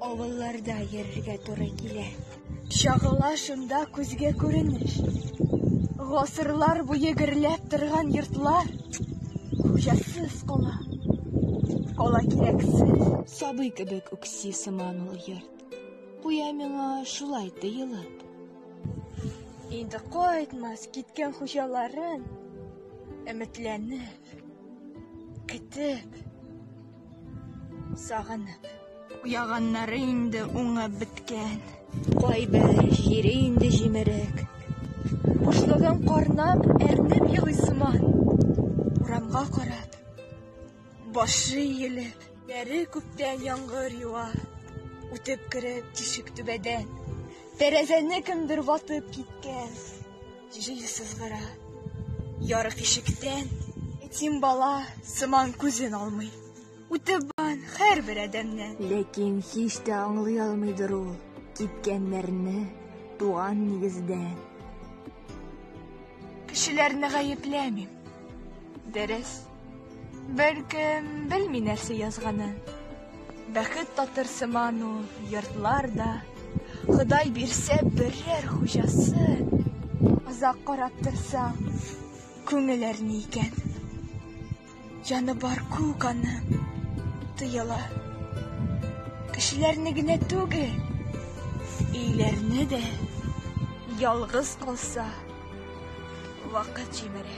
Авылларда йөрергә туры килә. Чагыла шунда күзгә күренеш. Гасырлар буе гөрләп торган йортлар хуҗасыз кала. Кала кирәксез. Сабый кебек үкси сыман ул йорт. Куя миңа шулай тыелып. Инде кайтмас киткән хуҗаларын өметләнеп Көтеп, сагынып. Уяганнары инде уңып беткән. Кайбер җире инде җимерек. Бушлыгын карнап, әрнеп елый сыман. Урамга карап, башы иелеп. Бәре күптән яңгыр ява. Үтеп кереп тишек түбәдән. Тәрәзәне кемдер ватып киткән. Җил сызгыра ярык ишектән, Этим бала сыман күзен алмый. Үтеп бан хәр бер адәмнән. Ләкин һич тә аңлый алмыйдыр ул Киткәннәрне туган нигездән. Кешеләрне гаепләмим, дөрес. Бәлкем, белми нәрсә язганы. Бәхет татыр сыман ул, йортлар да. Ходай бирсә берәр хуҗасы. Озак карап торсаң, күңел әрни икән. Җаны бар күк аның, тоела. Кешеләрне генә түгел, өйләрне дә. Ялгыз калса. Вакыт җимерә.